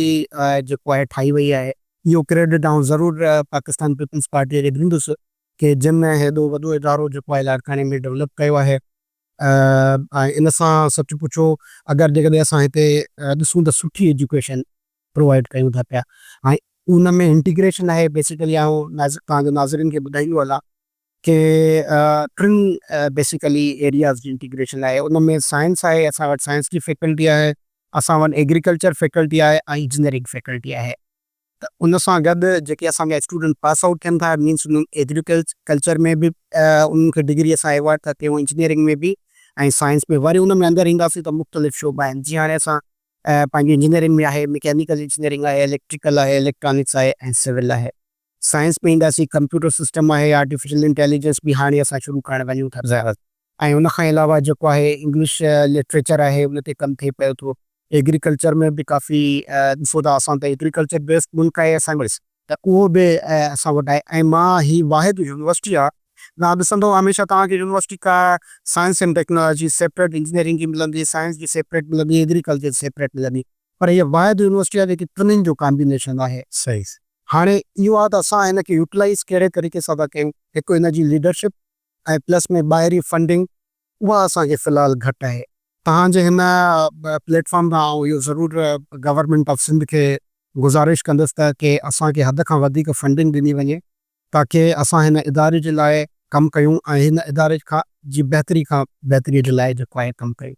جيڪو آهي ٺاهي وئي آهي. اهو ڪريڊٽ آئون ضرور پاڪستان پيپلز پارٽيء کي ڏيندس ڪي جن هيڏو وڏو ادارو جيڪو آهي لاڙڪاڻي ۾ ڊولپ ڪيو آهي ۽ ان سان سچ پڇو اگر جيڪڏهن اسان هتي ڏسون ته سٺي ايجوڪيشن پرووائيڊ ڪيون ٿا پيا ۽ ان ۾ انٽيگريشن آهي بيسيڪلي آئون ناظ تهان جي ناظرين کي ٻڌائيندو هلان کي ٽن بيسيڪلي ايرياز جي انٽيگريشن آهي ان ۾ سائنس آهي اسان وٽ سائنس جي فيڪلٽي آهي اسان وٽ ايگريڪلچر فيڪلٽي آهي ۽ انجنيئرنگ فيڪلٽي آهي ته ان سان گڏ جيڪي اسان جا اسٽوڊنٽ پاس آئوٽ ٿين ٿا مينس انهن ايگريڪلچر ۾ به انهن کي ڊگري اسان ايوارڊ ٿا ڪيون انجنيئرنگ ۾ به ۽ سائنس ۾ وري ان ۾ اندر اينداسين ته مختلف شعبا آهن جيئن هاڻي اسان پنهنجي انجنيئرنگ ۾ آهي مڪينيڪل انجنيئرنگ آهي اليڪٽريڪل آهي اليڪٽرانڪس آهي ۽ سول آهي سائنس ۾ اينداسين، ڪمپيوٽر سسٽم آهي، آرٽيفيشل انٽيليجنس به هاڻي اسان شروع ڪرڻ وڃون ٿا. زيارت ۽ ان کان علاوه جيڪو آهي انگلش لٽريچر آهي ان تي ڪم ٿئي پيو ٿو. ايگريڪلچر ۾ به ڪافي ڏسو ٿا اسان ته ايگريڪلچر بيسڊ ملڪ آهي اسان وٽ ته اهو به اسان وٽ آهي ۽ مان هي واحد يونيورسٽي آهي تان ڏسندو هميشه توهان کي يونيورسٽي ڪا سائنس ۽ ٽيڪنالاجي سيپريٽ انجنيئرنگ جي ملندي، سائنس جي سيپريٽ ملندي، ايگريڪلچر جي سيپريٽ ملندي. پر هيء واحد يونيورسٽي آهي جيڪي ٽنهين جو ڪامبينيشن آهي. صحيح. هاڻي اهو آهي ته اسان هن کي يوٽيلائيز ڪهڙي طريقي سان ٿا ڪيون. هڪ هن جي ليڊرشپ ۽ پلس ۾ ٻاهرين فنڊنگ اها اسان کي في الحال گهٽ آهي. توهان جي هن پليٽ فارم تان آئون اهو ضرور گورنمينٽ آف سنڌ کي گذارش ڪندس ته ڪي اسان کي حد کان وڌيڪ فنڊنگ ڏني وڃي ته ڪي اسان هن اداري جي لاء ڪم ڪيون ۽ هن اداري کان جي بهتري کان بهتري جي لاء جيڪو آهي ڪم ڪيون.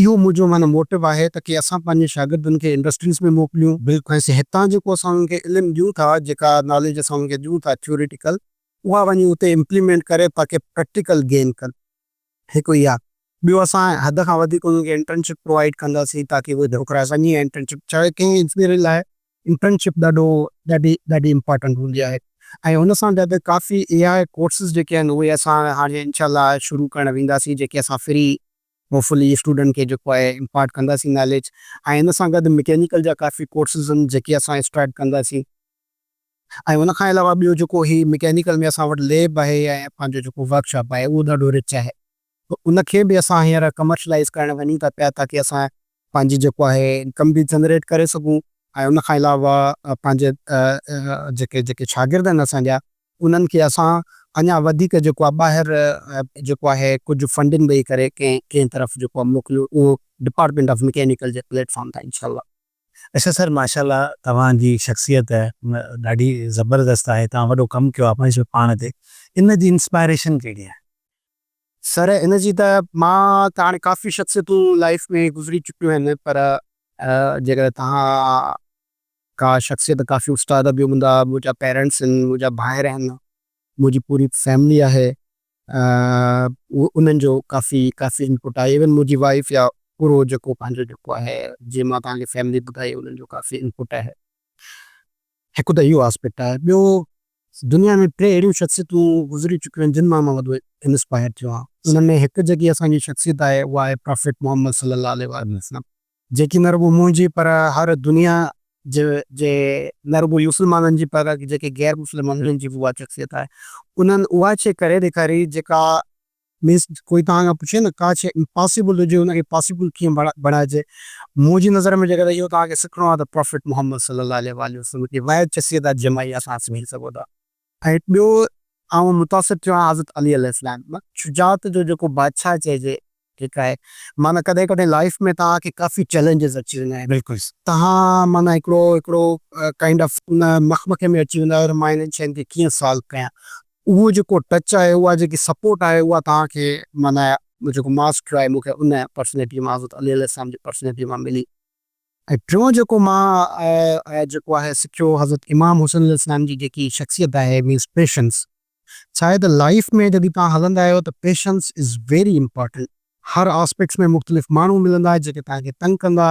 اهو منهنجو معنيٰ موٽو آهي ته ڪي اسان پنهنجي شاگردن کي انڊسٽريز ۾ موڪليون. بلڪل. ۽ هتان جيڪو اسان انهن کي علم ڏيون ٿا، جيڪا ناليج اسان انهن کي ڏيون ٿا ٿيوريٽيڪل، اها وڃي اتي امپليمينٽ ڪري تاڪي پريڪٽيڪل گين ڪن. هڪ اها. ٻيو اسان حد کان وڌيڪ انهن کي انٽرنشپ پرووائيڊ ڪنداسين تاڪي اهي ڏوڪرائي سگهن ۽ انٽرنشپ چاهي ڪنهن انجنيئر لاء انٽرنشپ ڏاڍو ڏاڍي ڏاڍي امپارٽنٽ هوندي آهي ۽ ان سان گڏ ڪافي اي آء ڪورسز جيڪي آهن اهي اسان هاڻي انشاء الله شروع ڪرڻ وينداسين جيڪي اسان فري ھوپفلي اسٽوڊنٽ کي جيڪو آھي امپارٽ ڪنداسين ناليج ۽ ان سان گڏ مڪينيڪل جا ڪافي ڪورسز آھن جيڪي اسان اسٽارٽ ڪنداسين ۽ ان کان علاوه ٻيو جيڪو ھي مڪينيڪل ۾ اسان وٽ ليب آھي ۽ پنھنجو جيڪو ورڪ شاپ آھي اھو ڏاڍو رچ آھي ان کي به اسان ھينئر ڪمرشلائز ڪرڻ وڃون ٿا پيا تاڪي اسان پنهنجي جيڪو آهي انڪم به جنريٽ ڪري سگهون ۽ ان کان علاوه پنهنجي جيڪي جيڪي شاگرد آهن اسان جا انهن کي اسان اڃا وڌيڪ جيڪو آهي ٻاهر جيڪو آهي ڪجهه فنڊنگ ڏئي ڪري ڪنهن ڪنهن طرف جيڪو آهي موڪليون اهو ڊپارٽمينٽ آف مڪينيڪل جي پليٽ فارم تان انشاء الله. اچا سر ماشاء الله توهان جي شخصيت ڏاڍي زبردست آهي توهان وڏو ڪم ڪيو آهي پنهنجي پاڻ تي ان جي انسپائريشن ڪهڙي آهي؟ سر ان جي ته مان ته هاڻي ڪافي شخصيتون لائيف ۾ گذري چڪيون آهن پر جيڪڏهن توهان ڪا شخصيت ڪافي استاد به هوندا منهنجا پيرينٽس آهن منهنجا ڀائر آهن منهنجي پوري فيملي آهي انهن جو ڪافي ڪافي انپوٽ آهي ايون منهنجي وائيف يا پورو جيڪو پنهنجو جيڪو آهي جي مان توهان کي فيملي ٻڌائي انهن جو ڪافي انپوٽ آهي. هڪ ته اهو آسپيڪٽ آهي ٻيو دنيا ۾ ٽي اهڙيون شخصيتون گذري چڪيون آهن جن مان مان وڏو انسپائر ٿيو آهيان ان ۾ هڪ جيڪي اسان جي شخصيت آهي اها آهي پرافيٽ محمد صلي الله عليه واٰله وسلم جيڪي نه رڳو منهنجي پر هر دنيا جي جي نه رڳو مسلمانن جي پر جيڪي غير مسلم انهن جي به اها شخصيت آهي انهن اها شيء ڪري ڏيکاري جيڪا مينس ڪوئي توهان کان پڇي نه ڪا شيء امپاسيبل هجي ان کي پاسيبل ڪيئن بڻائجي منهنجي نظر ۾ جيڪڏهن اهو توهان کي سکڻو آهي ته پرافيٽ محمد صلي الله عليه واٰله وسلم جي واحد شخصيت آهي جنهن مان اهي اسان سمجهي سگهو ٿا ۽ ٻيو آئون متاثر ٿيو آهيان حضرت علي عليه السلام مان شجاعت جو جيڪو بادشاهه چئجي هڪ آهي معنيٰ ڪڏهن ڪڏهن لائيف ۾ توهان کي ڪافي چئلينجز اچي ويندا آهن بلڪل توهان معنيٰ هڪڙو هڪڙو ڪائنڊ آف ان مخمخي ۾ اچي ويندا آهيو ته مان هنن شين کي ڪيئن سالو ڪيان. اهو جيڪو ٽچ آهي اها جيڪي سپورٽ آهي اها توهان کي معنيٰ جيڪو ماسٽر آهي مون کي ان پرسنيٽيء مان حضرت علي عليه السلام جي پرسنيٽيء مان ملي ۽ ٽيون جيڪو مان جيڪو آهي سکيو حضرت امام حسين عليه السلام جي جيڪي شخصيت آهي مينس پيشنس ڇا آهي ته لائيف ۾ جڏهن توهان هلندا آهيو ته پيشنس از ويري امپارٽنٽ هر آسپيڪٽس ۾ مختلف ماڻهو ملندا جيڪي توهان کي تنگ ڪندا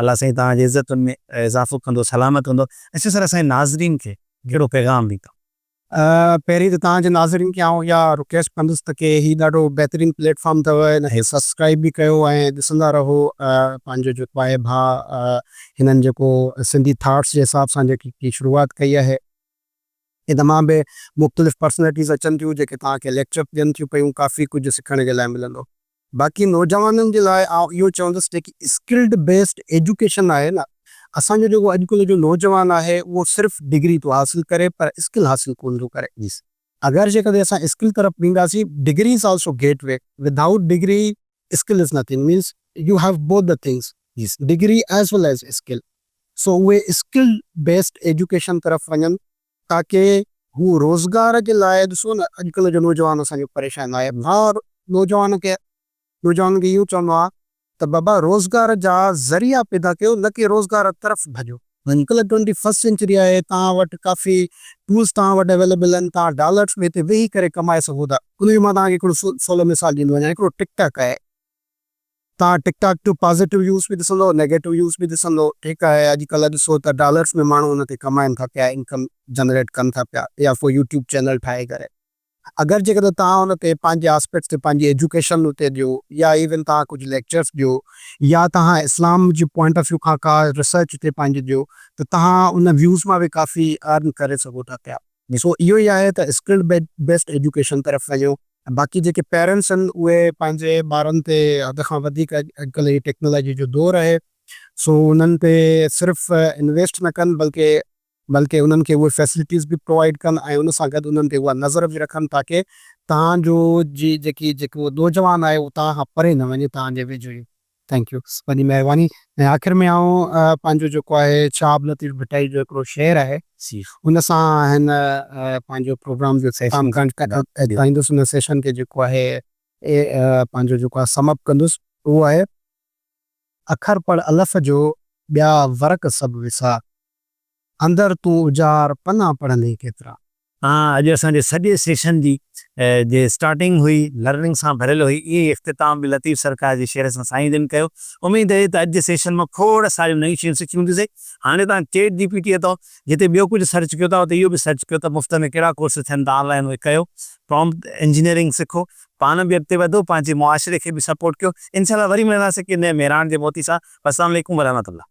الله سائين توهان جي عزتن ۾ اضافو ڪندو سلامت هوندو ۽ سيد سرا سائين ناظرين کي ڪهڙو پيغام ڏيندو. پهرين ته توهان جي ناظرين کي آئون اها رڪويسٽ ڪندس ته ڪي هي ڏاڍو بهترين پليٽ فارم اٿو هن کي سبسڪرائيب به ڪيو ۽ ڏسندا رهو پنهنجو جيڪو آهي ڀاء هنن جيڪو سنڌي ٿاٽس جي حساب سان جيڪي شروعات ڪئي آهي هن تمام به مختلف پرسنالٽيز اچن ٿيون جيڪي توهان کي ليڪچر ڏين ٿيون پيون ڪافي ڪجهه سکڻ جي لاء ملندو. باقي نوجوانن جي لاء آئون اهو چوندس جيڪي اسڪلڊ بيسڊ ايجوڪيشن آهي نه اسان جو جيڪو اڄ ڪلهه جو نوجوان آهي اهو صرف ڊگري ٿو حاصل ڪري پر اسڪل حاصل ڪونه ٿو ڪري اگر جيڪڏهن اسان اسڪل طرف وينداسين degree is also get way without degree skill is nothing means you have both the things degree as well as skill so اهي اسڪل بيسڊ ايجوڪيشن طرف وڃن تاڪه هو روزگار جي لاء ڏسو نه اڄڪلهه جو نوجوان اسان جو پريشان آهي مان نوجوان کي نوجوانن کي اهو چوندو آهيان ته بابا روزگار جا ذريعا پيدا ڪيو نه ڪي روزگار طرف ڀڄو. اڄڪلهه ٽوئنٽي فرسٽ سينچري آهي توهان وٽ ڪافي ٽولز توهان وٽ اويليبل آهن توهان ڊالرس ۾ هتي ويهي ڪري ڪمائي سگهو ٿا ان جو مان توهان کي هڪڙو سولو مثال ڏيندو وڃان هڪڙو ٽڪ ٽاڪ آهي توهان ٽڪ ٽاڪ جو پازيٽو ويوز به ڏسندو نيگيٽو ويوز به ڏسندو ٺيڪ آهي اڄ ڪلهه ڏسو ته ڊالرس ۾ ماڻهو ان تي ڪمائن ٿا پيا انڪم جنريٽ ڪن ٿا پيا يا فور يوٽيوب چينل ٺاهي ڪري اگر جيڪڏهن توهان ان تي پنهنجي آسپيڪٽس تي پنهنجي ايجوڪيشن اتي ڏيو يا ايون توهان ڪجهه ليڪچرس ڏيو يا توهان اسلام جي پوائنٽ آف ويو کان ڪا ريسرچ اتي پنهنجي ڏيو ته توهان ان ويوز مان به ڪافي ارن ڪري سگهو ٿا پيا. مسئو اهو ئي آهي ته اسڪلڊ بيسڊ ايجوڪيشن طرف وڃو ۽ باقي جيڪي پيرنٽس آهن اهي پنهنجي ٻارن تي حد کان وڌيڪ اڄڪلهه هي ٽيڪنالاجي جو دور آهي سو انهن تي صرف انويسٽ نه ڪن بلڪه بلڪه انهن کي اهي فيسلٽيز به پرووائيڊ ڪن ۽ ان سان گڏ انهن تي اها نظر به رکن تاڪه توهان جو جي جيڪي جيڪو نوجوان آهي اهو توهان کان پري نه وڃي توهان جي ويجهو ئي ٿينڪ يو وڏي مهرباني ۽ آخر ۾ آئون پنهنجو جيڪو آهي شهاب لطيف ڀٽائي جو هڪڙو شعر آهي ان سان هن پنهنجو پروگرام جو اختتام ڪرڻ چاهيندس ان سيشن کي جيڪو آهي پنهنجو جيڪو آهي سم اپ ڪندس اهو آهي اکر پڙهه الف جو ٻيا ورق سڀ وسار اندر تون اجار پنا پڙهندين ڪيترا. تان اڄ اسان جي سڄي سيشن جي جي اسٽارٽنگ هئي لرننگ سان ڀريل هئي ائين ئي اختتام به لطيف سرڪار جي شعر سان سائين جن ڪيو اميد اهي ته اڄ جي سيشن مان کوڙ ساريون نيون شيون سکيون هونديسين هاڻي تان چيٽ جي پي ٽي اٿو جتي ٻيو ڪجهه سرچ ڪيو ٿا اتي اهو به سرچ ڪيو ته مفت ۾ ڪهڙا ڪورس ٿين ٿا آنلائن اهي ڪيو پرامپٽ انجنيئرنگ سکو پاڻ به اڳتي وڌو پنهنجي معاشري کي به سپورٽ ڪيو انشاء الله وري ملنداسين ڪي نئين مهراڻ جي موتي سان والسلام عليڪم ورحمة الله.